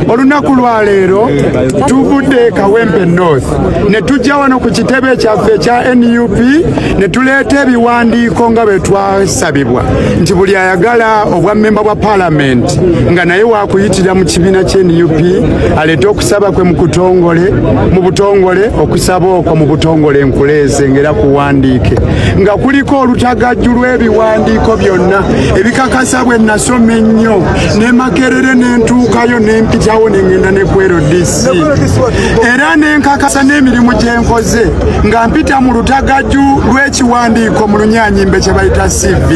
olunaku lwa leero tuvudde e kawempe north ne tujja wano ku kitebe kyaffe ekya nup ne tuleeta ebiwandiiko nga bwe twasabibwa nti buli ayagala obwa memba bwa palamenti nga naye wakuyitira mu kibiina kye nup aleete okusaba kwe mukutongole mu butongole okusaba okwo mu butongole nkuleeze ngaera kuwandiike nga kuliko olutagajju lw'ebiwandiiko byonna ebikakasa bwe nasoma ennyo ne makerere ne ntuukayo ne mpitawo ne ŋŋenda ne ku rdc era ne nkakasa n'emirimu gye nkoze nga mpita mu lutagaju lw'ekiwandiiko mu lunyanyimbe kye bayita cv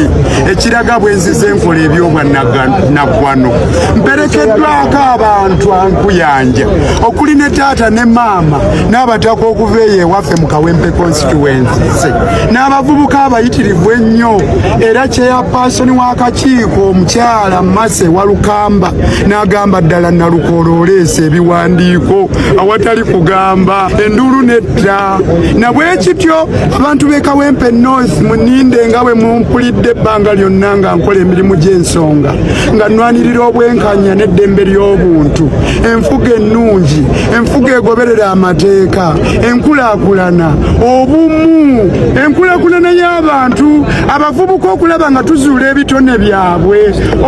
ekiraga bwe nzize enkola ebyobwannaggwano mperekeddwako abantu ankuyanja okuli ne taata ne maama n'abataka okuva eyo ewaffe mu kawempe constituense n'abavubuka abayitirivu ennyo era kyeyapaasoni w'akakiiko omukyala alamase walukamba n'agamba ddala nalukoola oleesa ebiwandiiko awatali kugamba enduulu nedda na bwe kityo abantu b'e kawempe north muninde nga bwe mumpulidde ebbanga lyonna nga nkola emirimu gy'ensonga nga nnwanirira obwenkanya n'eddembe ly'obuntu enfuga ennungi enfuga egoberera amateeka enkulaakulana obumu enkulaakulana y'abantu abavubuka okulaba nga tuzuula ebitone byabwe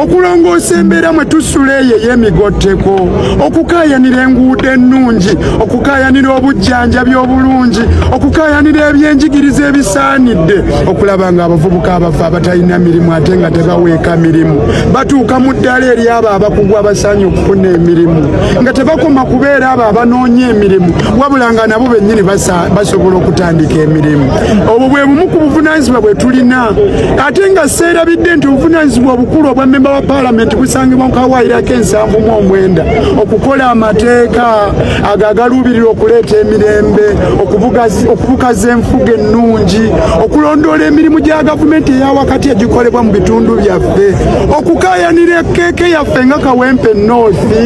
okulongoosa embeera mwe tusula eyo ey'emigotteko okukaayanira enguudo ennungi okukaayanira obujjanjabi obulungi okukaayanira ebyenjigiriza ebisaanidde okulaba nga abavubuka abafa abatalina mirimu ate nga tebaweeka mirimu batuuka mu ddala eri abo abakugu abasaanye okufuna emirimu nga tebakoma kubeera abo abanoonya emirimu wabula nga nabo bennyini basobola okutandika emirimu obwo bwe bumu ku buvunaanyizibwa bwe tulina ate nga seerabidde nti obuvunaanyizibwa obukulu obwa mmemba wa paalamenti busangibwa mu kawaayiro ak'ensanvu mu omwenda okukola amateeka ago agaluubirira okuleeta emirembe okubukaza enfuga ennungi okulondoola emirimu gya gavumenti eyawakati egikolebwa mu bitundu byaffe okukaayanira ekeeke yaffe nga kawempe noosi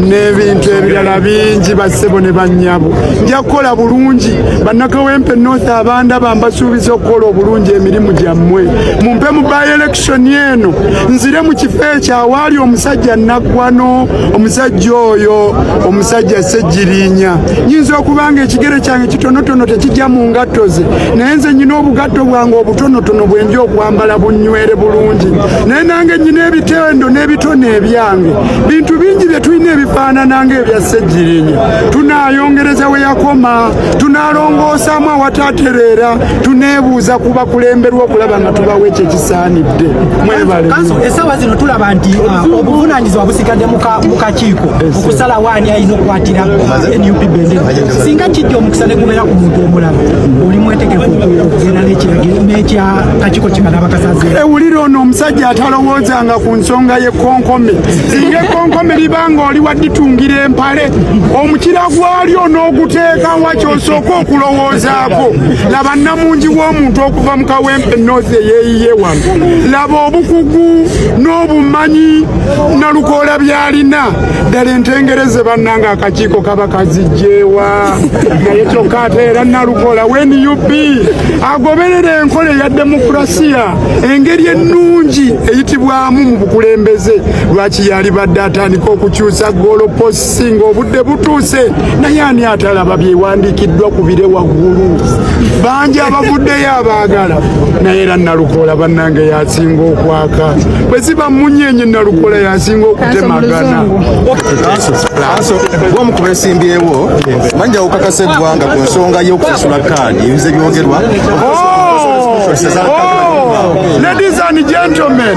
n'ebintu ebirala bingi bassebo ne bannyabo nja kukola bulungi Bannakawempe North abandaba mbasuubiza okukola obulungi emirimu gyammwe mumpe mu by election eno nzire mu kifo ekyo awaali omusajja naggwano omusajja oyo omusajja ssegirinya nyinza okuba nga ekigere kyange kitonotono tekijja mu ngatto ze naye nze nyina obugatto bwange obutonotono bwenja okwambala bunywere bulungi naye nange nyina ebitendo n'ebitone ebyange bintu bingi bye tulina ebifaanana nga ebya ssegirinya tunaayongereza we yakoma tunaalongoosaamu awataatereera tuneebuuza ku bakulemberwa okulaba nga tubawo ekyo ekisaanidde mwebale essaawa zino tulaba nti uh, obuvunaanyizibwa busigadde mu kakiiko okusalawo ani alina okukwatira nup bendera singa kijja omukisa ne gubeera ku muntu omulamu oli mwetegefu okugenda n'ekiragiro n'ekya kakiiko kimala abakasazi ewulira ono omusajja atalowoozanga ku nsonga y'ekkonkome singa ekkonkome libanga oli waditungira empa omukira gwalyo n'oguteekawa kyosooka okulowoozaako laba nnamungi w'omuntu okuva mu kawempe north eyeeyiye wano laba obukugu n'obumanyi nalukoola byalina ddala entengereze bannanga akakiiko kaba kazijjeewa naye kyokka ate era nalukoola wnup agoberera enkola eya demokurasiya engeri ennungi eyitibwamu mu bukulembeze lwaki yalibadde atandika okukyusa goloposi ng'obudde butuuse naye ani atalaba byewandiikiddwa ku bire waggulu bangi abavuddeyo abaagala naye era nalukoola bannange yasinga okwaka bwe ziba munyenye nalukoola yasinga okutemagana omu ku besimbyewo manja okakasa eggwanga ku nsonga y'okusasula kaadi ebize byogerwa oh! Oh! ladies and gentlemen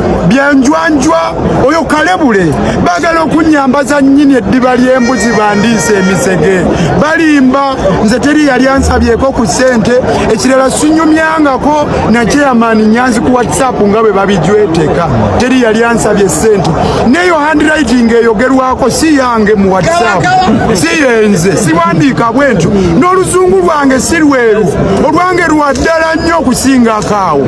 byanjwanjwa oyo kalebule bagala okunyambaza nyini eddiba ly'embuzi bandiisa emisege balimba nze teri yali ansabyeko ku ssente ekirala sinyumyangako nakyeyamaani nyanzi ku whatsapp nga bwe babijweteka teri yali ansabye ssente neyo handwriting eyogerwako si yange mu whatsapp si yenze siwandiika bwentyo n'oluzungu lwange si lweru olwange lwa ddala nnyo okusingako awo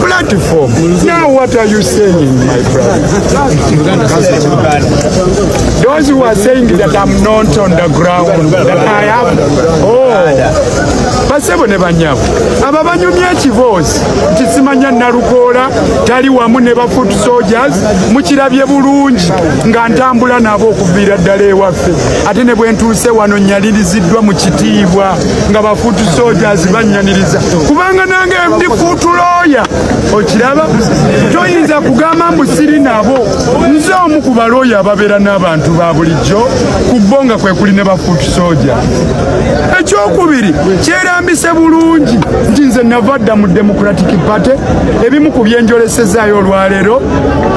platform. Now what are you saying, my brother? Those who are saying that I'm not on the ground, that I have, oh, basebo ne banyabo aba banyumya ekiboozi nti simanya nalukoola tali wamu ne ba foot soldiers mukirabye bulungi nga ntambula nabo okuviira ddala ewaffe ate ne bwentuuse wano nyaliriziddwa mu kitiibwa nga bafuutu sojazi bannyaniriza kubanga nange ndi fuutu looya okiraba toyinza kugamba mbu siri nabo nze omu ku balooya ababeera n'abantu ba bulijjo ku bo nga kwe kuli ne bafuutu soja ekyokubiri kyerambise bulungi nti nze nava dda mu democratic party ebimu ku byenjolesezaayo olwaleero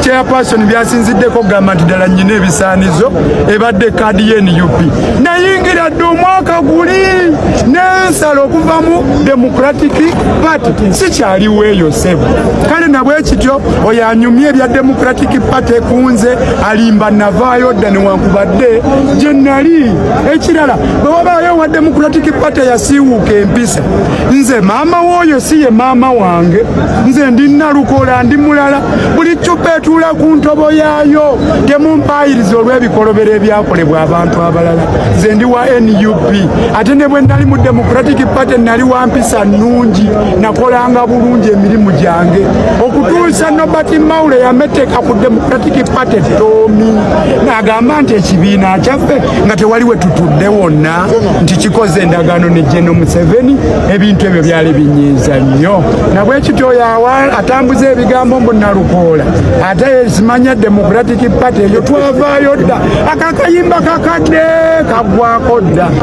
chairperson byasinziddeko okugamba nti ddala nnyina ebisaanizo ebadde kaadi ye nup nayingira dde omwaka guli nensala okuvamu democratic party sikyaliwo eyo sebo kale nabwekityo oyo anyumya ebya democratic party kunze alimba navaayo dda newankubadde gye nali ekirala bwe wabaayo owa democratic party yasiiwuuka empisa nze maama wooyo si ye maama wange nze ndi nalukola ndi mulala buli cupa etuula ku ntobo yaayo temumpaayiriza olw'ebikolobero ebyakolebwa abantu abalala nze ndi wa nup ate ne bwe nali mu democratic party nali wa mpisa nnungi nakolanga bulungi emirimu gyange okutuusa nobert maula yameteka ku democratic party toomi n'agamba nti ekibiina kyaffe nga tewali we tutudde wonna nti kikoze endagaano ne geno museveni ebintu ebyo byali binyiiza nnyo nabwekityo oyo atambuza ebigambo mbu nalukoola ate simanya democratic Democratic Party eyo twavaayo dda akakayimba kakadde kagwako dda.